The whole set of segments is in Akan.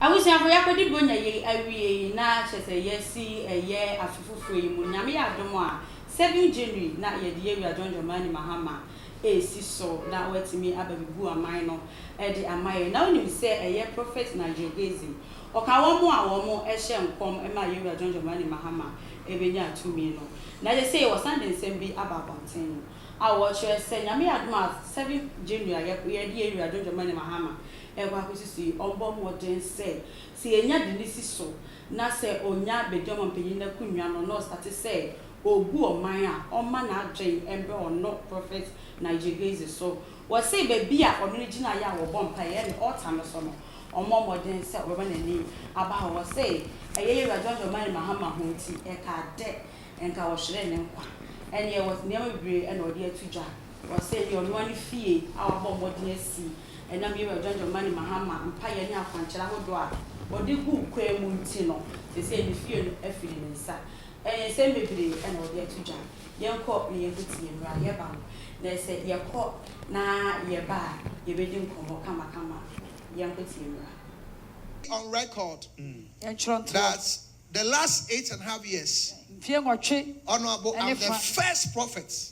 Abusuafo, yɛakodi Buronya yei awiei na kyerɛ sɛ yɛasi ɛyɛ afe foforɔ yi mu. Nyame yɛ adom a, 7 January na yɛde Yɛwura John Dramani Mahama resi so na watumi aba bɛbu aman no de ama yɛn. Na wonim sɛ ɛyɛ Prophet Nigel Dozie, ɔka wɔn a wɔn hyɛ nkɔm ma Yɛwura John Dramani Mahama bɛnyaa tumi no. Na kyerɛ sei wɔsan de nsɛm bi aba abɔnten a wɔkyerɛ sɛ Nyame yɛ adom a 7 January a yɛde Yɛwura John Dramani Mahama rekɔ akɔsi so yi, ɔmmɔ mmɔden sɛ, sɛ yɛnya de no si so na sɛ ɔnya bedi ɔmampanyin no akonnwa no na ɔstate sɛ ɔrebu ɔman a, ɔmma n'adwene mmra ɔno Prophet Nigel Hasey so. Wɔse baabi a ɔno ne gyinaeɛ a wɔbɔ mpaeɛ, ɛyɛ ne altar no so no, ɔmmɔ mmɔden sɛ ɔbɛma n'ani aba hɔ. Wɔse ɛyɛ yɛn Wura John Dramani Mahama ho nti, ɛka dɛ nka wɔhweree ne nkwa. Ɛnneɛ wɔse nneɛma bebree na ɔde ato dwa. Wɔse ɛyɛ ɔno ara ne fie a wabɔ mmɔden asi. Ɛnam Yoweri Adwadwommani Mahama mpaeɛ ne akwankyerɛ ahodoɔ a ɔde guu kwan mu nti no, seesei ne fie no afiri ne nsa. Ɛɛ, nsɛm bebree na wɔde ato dwa. Yɛnkɔ na yɛnkɔ tie mmra, yɛba no, na sɛ yɛkɔ na yɛba a, yɛbɛdi nkɔmmɔ kamakama. Yɛnkɔ tie mmra. On record that the last eight and half years, Ɔno abo, am the first prophet.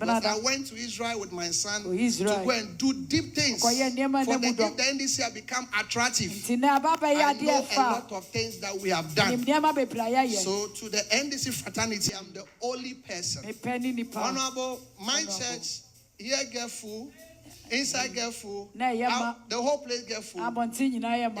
Benada, ɔkɔɔ Israel kɔyɛɛ nneɛma a na emu dɔ. Enti na aba abɛyɛ adeɛ fã. Menim nneɛma bebree a yɛayɛ. Me pɛ ne nnipa honorable. Na ɛyɛ ma. Abɔnten nyinaa yɛ ma.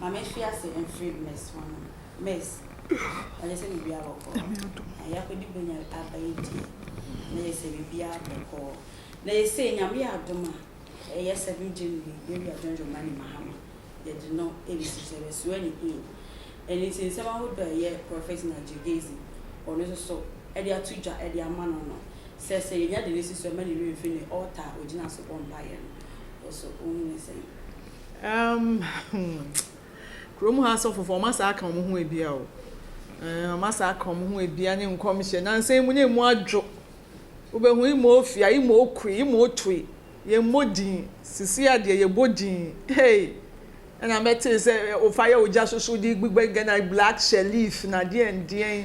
Maame ahyi ase mfiri Miss hɔ no Miss ɔyɛ sɛ biribiara bɔkɔɔ na yɛakɔdi bɛnya aba yi deɛ na yɛ sɛ biribiara bɔkɔɔ na yɛ sɛ nyame yɛ adom a ɛyɛ 7 January yɛwi adwene dwoma ne mahama yɛde no ɛbɛsi sɛ bɛsoa ne in ɛne ti nsɛm ahodoɔ a ɛyɛ Prophet Nigel Gezi ɔno nso so ɛde ato dwa ɛde ama no no sɛ sɛ yɛnya de no si so ɛma ne werɛ mfiri ne altar a ɔgyina so bɔ mpaeɛ no ɔso ɔhu ne sɛn. Um hmm Kurom ha asɔfofo wɔn asa aka wɔn ho abia o. Eh, wɔn asa aka wɔn ho abia ne nkɔmhyɛ. Nansa yi mu ne mu adwo. Wobɛhu ima ofia, ima okue, ima otue. Yɛmmɔ din. Sisi adeɛ yɛbɔ din. Hey! Ɛna mɛtee sɛ ofa yɛ ogya soso de gbigba gana black sheriff na deɛn deɛn.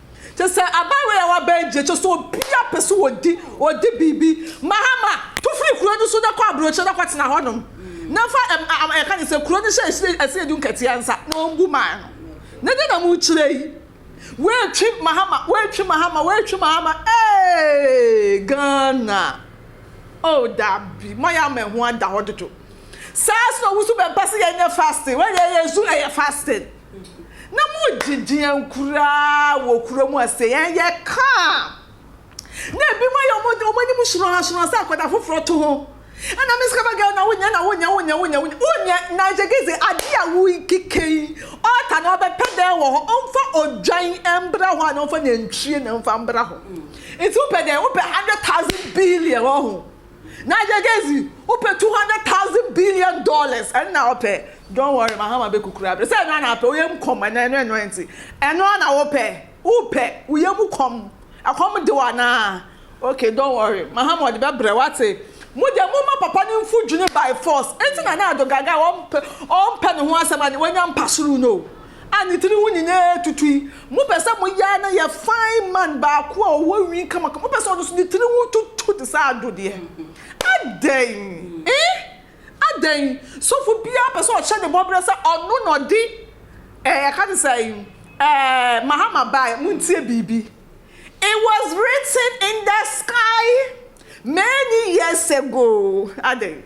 Kyɛ sɛ aban wei a wɔabɛn gye, kyɛ sɛ obiara pɛ sɛ odi, odi biribi. Mahama, tu firi kuro no so na kɔ aburokyire na kɔtena hɔnom. Na fa ɛm, yɛka ne sɛ kuro no hyɛ ɛsiri, ɛsiri du nkɛteɛ nsa na ɔmbu maa no. Na deɛ na mokyerɛ yi? Woatwi Mahama, woatwi Mahama, woatwi Mahama, ee, Ghana. Oh, dabi, moayɛ ama ɛho ada hɔ dodo. Saa nso na wo nso bɛmpɛ sɛ yɛnyɛ fasting, wodeɛ yɛn nso ɛyɛ fasting. Na mo gyidie ankuraa wɔ kuro mu a sɛ ɛyɛ kaa a na ebi mo yɛ wɔn anim hyerɔn hyerɔn sɛ akwadaa foforɔ to ho ɛna miss kaba girl na wonya na wonya wonya wonya wonya wonya na gyegeze adeɛ a wokeke yi ɔɔta na ɔbɛpɛ dɛn wɔ hɔ ɔmfa odwan mbra hɔ a na ɔmfa nantwie na mfa mbra hɔ nti wopɛ dɛn wopɛ hundred thousand billion wɔ ho. Na Yegezi wopɛ two hundred thousand billion dollars ɛno na wopɛ don't worry Mahama bɛkukuru abrɛ sɛ ɛno a na wopɛ wo yam kɔm ɛnɛ ɛno ɛno ɛnti ɛno a na wopɛ wopɛ wo yam kɔm ɛkɔm de wo anaa okay don't worry Mahama ɔde bɛbrɛ wate mo deɛ mo ma papa no mfu dwene by force ɛnti na na ado gaga wɔmpɛ ɔmpɛ ne ho asɛm a wanya mpasoro no a ne tiri ho nyinaa tutui. Mopɛ sɛ moyɛ ara na yɛ fine man baako a ɔwɔ nwi kamakama, mopɛ sɛ ɔno nso ne tiri ho tutu te sɛ Addo deɛ? Adɛn ee! Adɛn! Sɔfo biara pɛ sɛ ɔhyɛ ne bɔberɛ sɛ ɔno na ɔde eh, yɛka ne sɛn eh, Mahama baeɛ. Montie biribi. It was written in the sky many years ago. Adɛn?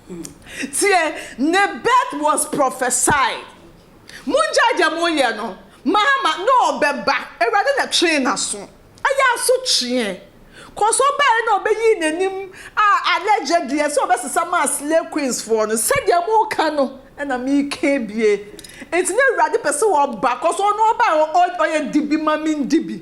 Tie, ne birth was prophesied. Mongyae deɛ moyɛ no. Mahama, na ɔbɛba. Awurade na twee n'aso. Ɛyɛ asotweɛ. Kɔs ɔbaeɛ na ɔbɛyii n'anim a alleged deɛ sɛ ɔbɛsesa maa slay queens foɔ no. Sɛdeɛ moka no na meka bie. Nti na Awurade pɛ sɛ ɔba. Kɔs ɔno ɔbaeɛ ɔyɛ dibi ma mendi bi.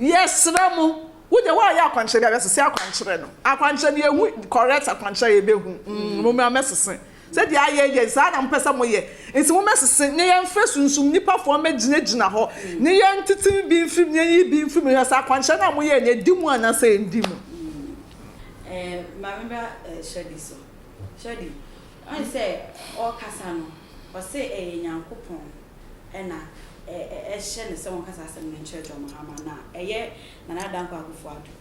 Yɛsrɛ mo, wo deɛ woayɛ akwankyerɛ biara sese akwankyerɛ no, akwankyerɛ no yɛhu correct akwankyerɛ a yɛbɛhu, mm momra mɛsese sɛdeɛ ayɛ yɛ saa na mopɛ sɛ moyɛ nti momɛsese na yɛmfrɛ sunsum nipa foɔ mmɛgyina gyina hɔ na yɛntete bi mfiri mu na yɛnyi bi mfiri mu hwɛ sɛ akwankyerɛ no a moyɛɛ no ɛdi mu anaa sɛ ɛndi mu. Ɛɛ maame ba Shirley so. Shirley, woahu sɛ ɔɔkasa no ɔse ɛyɛ Nyankopɔn na ɛhyɛ no sɛ wɔnkasa asɛm no nkyerɛ John Mahama na ɛyɛ Nana Dankwa Akufo-Addo.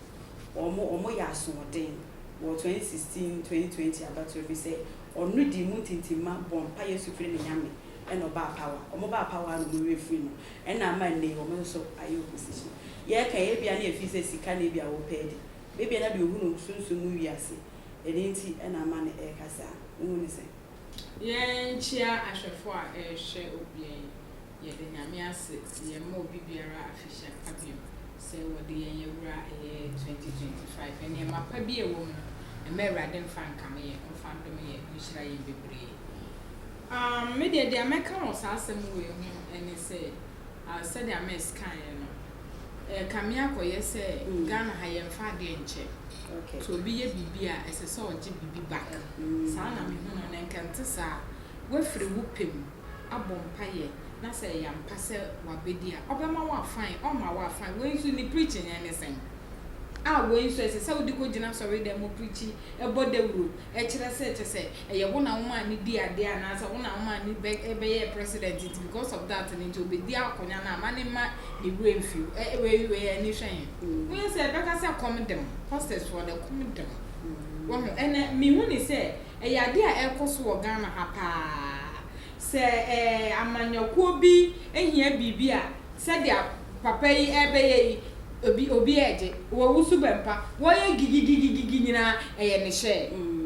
Wɔyɛ asoɔden wɔ 2016-2020 abatoɔ bi sɛ ɔno dii mu ntintimma bɔɔ mpaeɛ nso frɛɛ no Nyame na ɔbaa power. Wɔbaa power na wɔn werɛ firii no na ama nnɛ yi wɔn nso ayɛ opposition. Yɛreka yi ebia na ɛfiri sɛ sika na ebia wɔpɛ adi. Ebia na deɛ ɔhunu sunsum mu wiase ɛno nti na ama no ɛreka saa. Wohu no sɛn? Yɛnkyea ahwɛfo a ɛrehwɛ obia yi. Yɛde Nyame ase sɛ yɛma obi biara afihyia pa biom sɛ wɔde yɛn awura ɛyɛ 2025. Nneɛma pa bi a ɛwɔ mu no, mma Awurade mfa nkame yɛn, ɔmfa ndome yɛn, ɔnhyira yɛn bebree. Aah, me deɛ deɛ mɛka wɔ saa asɛm wei ho ɛne sɛ. a sɛdeɛ Miss kaeɛ no, ɛrekame akɔyɛ sɛ Ghana ha yɛmfa adeɛ nkyɛ. Sɛ obi yɛ biribi a ɛsɛ sɛ ɔgye biribi back. Saa na mehu no na nka ɛnte saa a, woafiri wo pɛ mu abɔ mpaeɛ na sɛ ɛyɛ ampa sɛ wabɛdi a, ɔbɛma wo a fine, ɔmma wo a fine. Wei nso ne preaching yɛ ne sɛn? A wei nso ɛsɛ sɛ wode kɔgyina asɔredɛm mu preachi, bɔ dawuro, kyerɛ sɛ kyɛ sɛ. ɛyɛ wo na womaa no dii adeɛ anaasɛ wo na womaa no bɛ ɛbɛyɛɛ president nti because of that no nti ɔbɛdi akonya no a ma ne mma ne werɛ mfi wo ɛ wei wei ani hwɛ he wonyɛ sɛ ɛbɛka sɛ kɔm de mo hostess foɔ dɛ kɔm de mo wahu ɛnɛ mehu ne sɛ ɛyɛ adeɛ a ɛrekɔ so wɔ Ghana ha paa Sɛ amanyɔkuo bi hia biribi a, sɛdeɛ papa yi rebɛyɛ yi, obi obi regye, wawu so bɛmpa, wɔyɛ gigigigigigi nyinaa, ɛyɛ ne hyɛɛ. Umm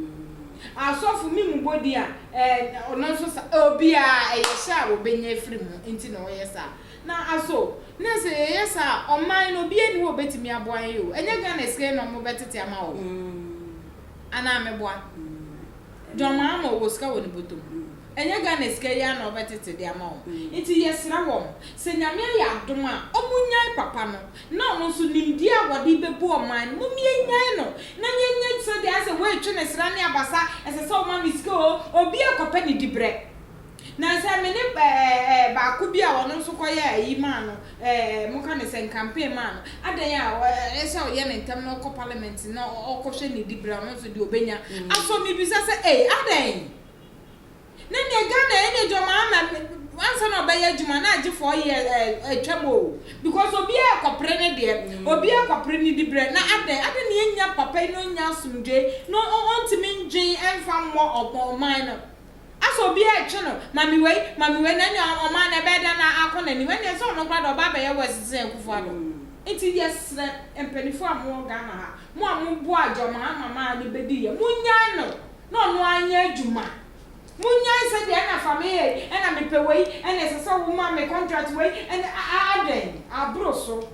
asɔfo me mu bɔ din a, ɛɛ ɔno nso sa, obiara ɛyɛ hyɛ a wɔbɛnya afiri mu nti na wɔyɛ saa. Na aso na sɛ yɛyɛ saa a, ɔman no obiara nni hɔ a ɔbɛtumi aboa yɛn o, ɛnyɛ Ghana sika yi na wɔbɛtete ama wo. anaa meboa John Mahama ɔwɔ sika wɔ ne bɔtɔ mu ɛnyɛ Ghana sika yi ara na ɔbɛtete de ama wɔn nti yɛsrɛ wɔn sɛ Nyame ayɛ adom a wɔn nyae papa no na wɔn nso nimdeɛ a wɔde bɛbu ɔman no mom yɛnyae no na yɛnyɛ sɛdeɛ ayɛ sɛ wei twe ne sra ne abasa ɛsɛ sɛ ɔma me sika oo obiara kɔpɛ ne dibrɛ. Na sɛ me ne ɛɛ ɛɛ baako bi a ɔno nso kɔyɛ ayi maa no, ɛɛ ɛɛ moka no sɛn, campaign maa no, adɛn a ɔ ɛɛ sɛ ɔyɛ no ntɛm na ɔkɔ parliament na ɔ ɔkɔhwɛ ne dibre a ɔno nso deɛ ɔbɛnya asɔ mebisa sɛ ei adɛn? Na neɛ Ghana yɛ neɛ gyɔma ama me ansa na ɔbɛyɛ adwuma na agye four years ɛɛ ɛɛ twam oo because obiara rekɔpere ne deɛ, obiara rekɔpere ne dibre na adɛn? Adɛn na yɛnnya papa yi na ɔnnya asomdwoe na ɔ ɔntumi nnwen ɛmfa mmɔ ɔ ɔman no? Asɛ obi ɛɛtwe no, ma me wei, ma me wei, na nea ɔmaa no ɛbɛyɛ dɛn na akɔ n'anim? Ɛnneɛ sɛ ɔno koraa deɛ ɔba abɛyɛ worse sen Akuffo Addo. Nti yɛsrɛ mpaninfoɔ a mowɔ Ghana ha, mo a moboaa John Mahama maa no bɛdiiɛ, monyae no na ɔno ara nyɛ adwuma. Monyae sɛ deɛ ɛna fa me hei, ɛna mepɛ wei, ɛna ɛsɛ sɛ woma me contract wei, ɛna adɛn, aboro so.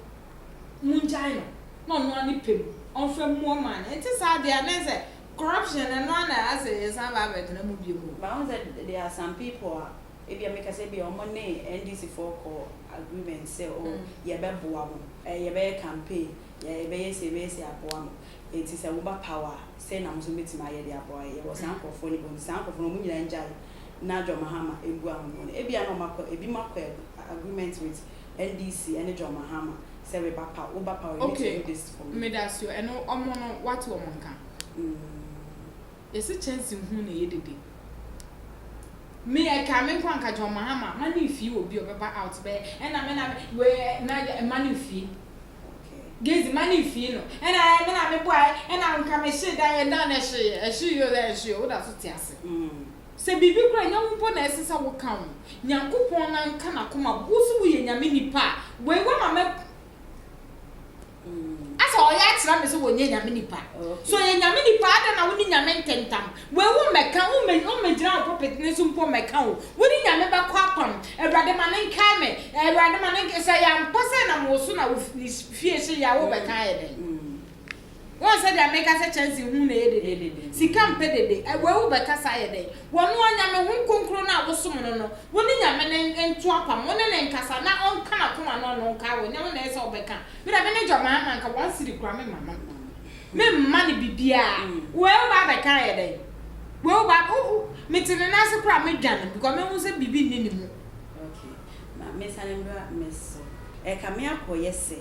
Mongyae no na ɔno ara ne pɛ mu ɔmfa mmu ɔman no. Ɛnte saa deɛ a na ɛnsɛ. Corruption ɛno ara na asɛ yɛsan ba abɛtena mu biom o. But wohu sɛ there are some people a ebia meka sɛ ebia wɔn ne NDC foɔ kɔ agreement sɛ oh yɛbɛboa mo, eh yɛbɛyɛ campaign, yɛ yɛbɛyɛ sei yɛbɛyɛ sei aboa mo, enti sɛ woba power a sei na mo nso mobɛtumi ayɛ de aboa yɛn. Yɛwɔ saa nkorɔfoɔ no bi, enti saa nkorɔfoɔ no wɔn nyinaa ngyae na John Mahama mmua wɔn no, ebia na wɔn akɔ, ebinom akɔ agreement with NDC ɛne John Mahama sɛ me ba pa wo ba pa wo need to do this for me. Okay medasio ɛno ɔmo no wate ɔmo nka. Yɛse kyɛnse hu na ɛyɛ dede. Me ɛka me nko anka John Mahama ma ne nfie obi ɔbɛba out bɛyɛ ɛna me na me wee na ma ne nfie Gezi ma ne nfie no ɛna ɛɛ me na me boaɛ ɛna nka me hye dan ɛdan no ɛhye ɛhye yio ɛhye yio wodaso te ase. Sɛ biribi koraa nyɛ wo mpo na ɛsɛ sɛ wo ka ho. Nyankopɔn nan ka nakoma bo wo so wo yɛ Nyame nipa a wei wa ma mɛ asɛ ɔyɛ akyerɛ me sɛ wɔ nyɛ Nyame nipa sɛ ɔyɛ Nyame nipa adɛn na wo ne Nyame ntentam wei wo mɛ ka wo mɛ wo mɛ gyina wo pulpit ne so mpo mɛ ka o wo ne Nyame bɛ kɔ apam Awurade ma ne nkae me Awurade ma ne nkae sɛ yɛ ampa sɛ ɛnam wo so na wo ne fie hye yɛ a wo bɛ ka ayɛ dɛn. Wohu sɛdeɛ meka sɛ kyɛnsee ho na ɛyɛ dedeede, sika mpɛ dede, wei wo bɛkasa ayɛ dɛn? Wɔno ara Nyame Hon Kronkron no a wosom no no, wo ne Nyame no nto apam, wo ne no nkasa na ɔnka n'akoma no ɔno nkae wo, nyɛ wo na ɛyɛ sɛ wo bɛka, me deɛ me ne Gyammaa ma nka one cedi koraa me mma no, me mma no bibiara, wei wo ba abɛka ayɛ dɛn? Wei wo ba, wo, wo, me te ne nan ase koraa a me dwane because me hu sɛ biribi nni ne mu. Ma mensane mmra me so. Ɛkame akɔyɛ sɛ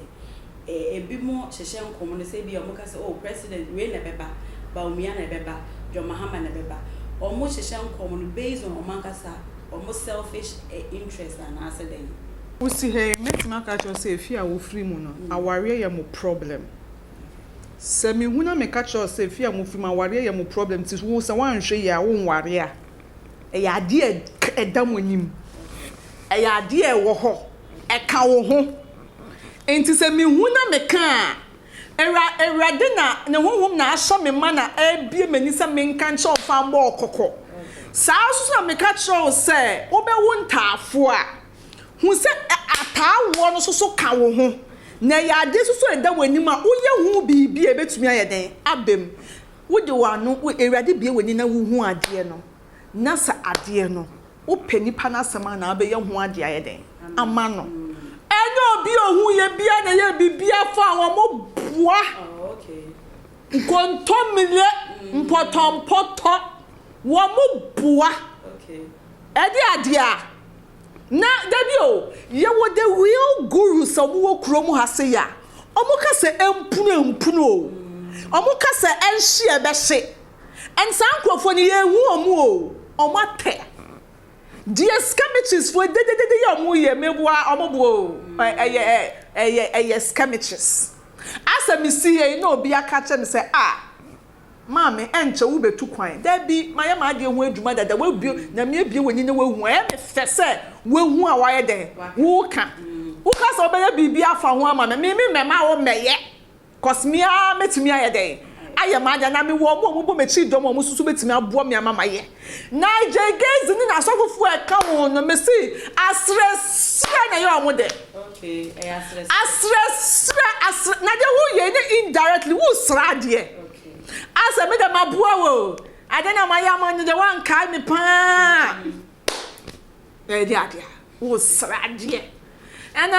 ebinom hyehyɛ nkɔm no sɛ ebia wɔka sɛ oh president wei na ɛbɛba, Bawumia na ɛbɛba, John Mahama na ɛbɛba. Wɔhyehyɛ nkɔm no based on wɔn ankasa wɔn selfish interest anaasɛ dɛn? Wo si ha yi, mɛtumi aka akyerɛ wo sɛ efie a wo firi mu no, awareɛ yɛ mo problem. Sɛ me hu na me ka kyerɛ wo sɛ efie a mo firi mu, awareɛ yɛ mo problem, nti wo sɛ woanhwɛ yie a, wo nware a. Ɛyɛ adeɛ a ɛda mo anim. Ɛyɛ adeɛ a ɛwɔ hɔ. Ɛka wo ho. Enti sɛ mehu na meka a, Awura, Awurade na Ne Honhom na asɔ me ma na abue m'ani sɛ menka nkyerɛ wo mfa mmɔ wo kɔkɔ. Saa ara nso na meka kyerɛ wo sɛ wobɛwo ntaafoɔ a, hu sɛ ataawoɔ no nso so ka wo ho. Na ɛyɛ adeɛ nso so a ɛda w'anim a woyɛ ho biribi a ɛbɛtumi ayɛ dɛn? Aba mu. Wode w'ano, Awurade bue w'ani na wuhu adeɛ no, na sɛ adeɛ no, wopɛ nipa no asɛm a na wobɛyɛ ho adeɛ ayɛ dɛn ama no. Ɛnyɛ obi a ohuiɛ biara na ɛyɛ biribiara fa a wɔboa nkontomire, mpɔtɔmpɔtɔ, wɔboa ɛde adeɛ a. Na dabi o, yɛwɔ the real gurus a wɔwɔ kurom ha sei a, wɔka sɛ ɛmpunu a ɛmpunu o, wɔka sɛ ɛnhye a ɛbɛhye, and saa nkurɔfoɔ no yɛnhu wɔn o, wɔn atɛ. Deɛ skamichesfoɔ dededede yi a wɔyɛ, meboa wɔn boɔ o, ɛyɛ ɛyɛ ɛyɛ skamiches. Asɛ mesi ha yi na obi aka akyerɛ me sɛ ah, Maame, ɛnkyɛ wo bɛ tu kwan. Dabi, ma yɛ m'adeɛ ho adwuma dada, w'abue, Nyame abue w'ani na w'ahu, ayɛ me fɛ sɛ w'ahu a w'ayɛ dɛn, wo ka, wo ka sɛ wo bɛyɛ biribi afa ho ama me, me me mɛma wo mɛyɛ, cos me ara mɛtumi ayɛ dɛn, ayɛ m'adeɛ, anaa me wɔ ɔmo a ɔmo bɔ m'akyi dɔm a ɔmo nso so bɛtumi aboa me ama m'ayɛ. Nigel Gayze ne n'asɔfofoɔ a ɛka ho no, me se, aserɛ serɛ na yɛ ɔmo dɛ. Asrɛ srɛ asrɛ na deɛ woyɛ ne indirectly wosrɛ adeɛ asɛ me deɛ maboa wo adeɛ na mayɛ ama no deɛ wankae me paa na ɛde adeɛ wosrɛ adeɛ ɛna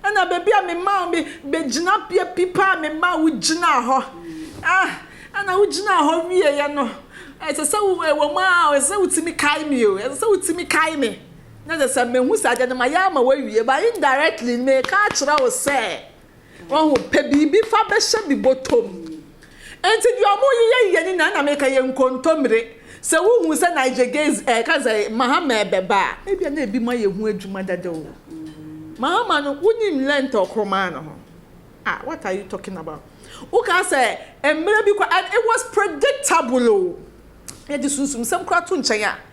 ɛna baabi a mema wo me bɛgyina bea pi paa mema wo gyina hɔ ah ɛna wogyina hɔ wieɛ no ɛsɛ sɛ wo ɛwɔ mu a ɛsɛ sɛ wotumi kae me o ɛsɛ sɛ wotumi kae me Na ɛsɛ sɛ mehu saa deɛ na mayɛ ama wo awie but indirectly meka akyerɛ wo sɛ wahu pɛ biribi fa bɛhyɛ me bɔtɔm nti deɛ ɔmo yeyɛ yeyɛ ne nyinaa na meka yɛ nkontomire sɛ wohu sɛ Nigel Gaze ɛɛ ka sɛ Mahama ɛbɛba a ebia na ebi mo ayɛ ho adwuma dada o Mahama no wonim length a ɔkoro maa no ho ah what are you talking about woka sɛ mmerɛ bi kɔ and it was predictable o yɛde sunsumsɛm koraa to nkyɛn a.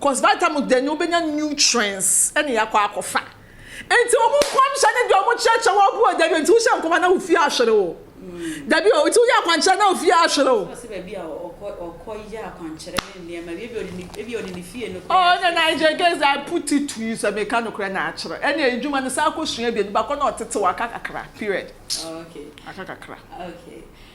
Cause by the time o dɛn no wobɛnya nutrients ne akɔ akɔfa. Nti wɔn nkɔmhyɛ ne deɛ wɔn kyerɛkyerɛ wɔ gu o dabi o nti wohyɛ nkɔm a na wo fie ahwere o. Dabi o nti woyɛ akwankyerɛ na wo fie ahwere o. Ɔse baabi a ɔkɔ ɔkɔ yɛ akwankyerɛ ne nneɛma bi ebi ɔde ne ebi ɔde ne fie no koraa. Oh ɛna na agye case I put it to you sɛ meka nokorɛ na akyerɛ ɛne adwuma no saa kɔ sua abien no bakɔ na ɔtetew aka kakra period. Oh okay. Aka kakra. Okay.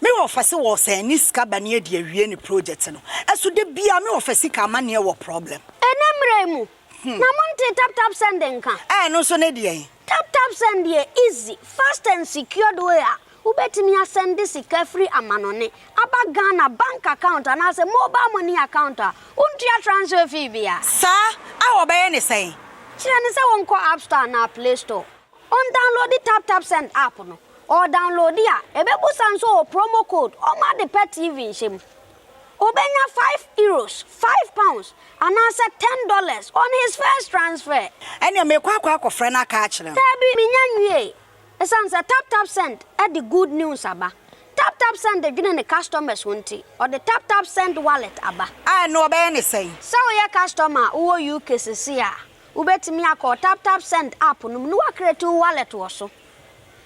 Me wɔfa se wɔ sɛn ne sika ba ne adi awie ne project no ɛso da biaa me wɔfa sika amaneɛ wɔ problem. Ɛnɛ mmerɛ yi mu na mo ntee tap tap send nka. Ɛno nso ne deɛn? Tap tap send yɛ easy, fast and secured way a wobɛtumi asɛnde sika firi amanɔne aba Ghana bank account anaasɛ mobile money account a wontua transfer fee biara. Saa? A wɔbɛyɛ ne sɛn? Kyerɛ no sɛ wɔnkɔ App Store anaa Play Store. Ɔndawnlode TapTapSend app no. Ɔɔdawnlode a, ebebisa no sɛ ɔwɔ promo code ɔma ade pɛ TV nhyɛ mu. Obenya five Euros, five pounds, anaasɛ ten dollars on his first transfer. Ɛneɛ meekɔ akɔ akɔfrɛ no aka akyerɛ no. Daabi, menya nwiee. Esiane sɛ TapTapSend de good news aba. TapTapSend dwene ne customers ho nti, ɔde TapTapSend Wallet aba. A ɛno ɔbɛyɛ ne sɛn? Sɛ woyɛ customer a wowɔ UK sesei a, Wobɛtumi akɔ wo TapTapSend app no mu na woacreate wo wallet wɔ so.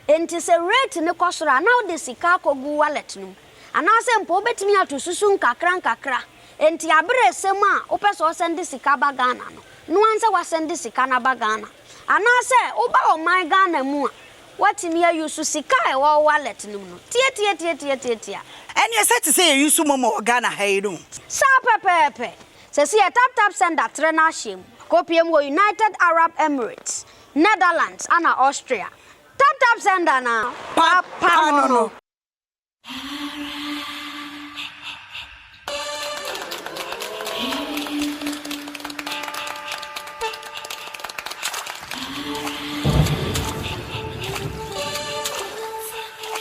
Enti sɛ rate no kɔ soro a, na wode sika akɔgu wo wallet no mu. Anaasɛ mpo wobɛtumi ato susu nkakrankakra. Enti aberɛ ɛsɛ mu a wopɛ sɛ wosɛnde sika ba Ghana no, no ara sɛ woasɛnde sika no aba Ghana. Anaasɛ woba ɔman Ghana mu a, woatumi a use sika a ɛwɔ wo wallet no mu no. Tiatiatiatiatiatia. Ɛneɛ sɛ te sɛ yɛ use momo wɔ Ghana ha yi no. Saa pɛpɛɛpɛ. Sesei TapTap Sender trɛ n'ahyeɛ mu kɔpue mu wɔ United Arab Emirates, Netherlands ana Austria. TapTap Sender na papa no no.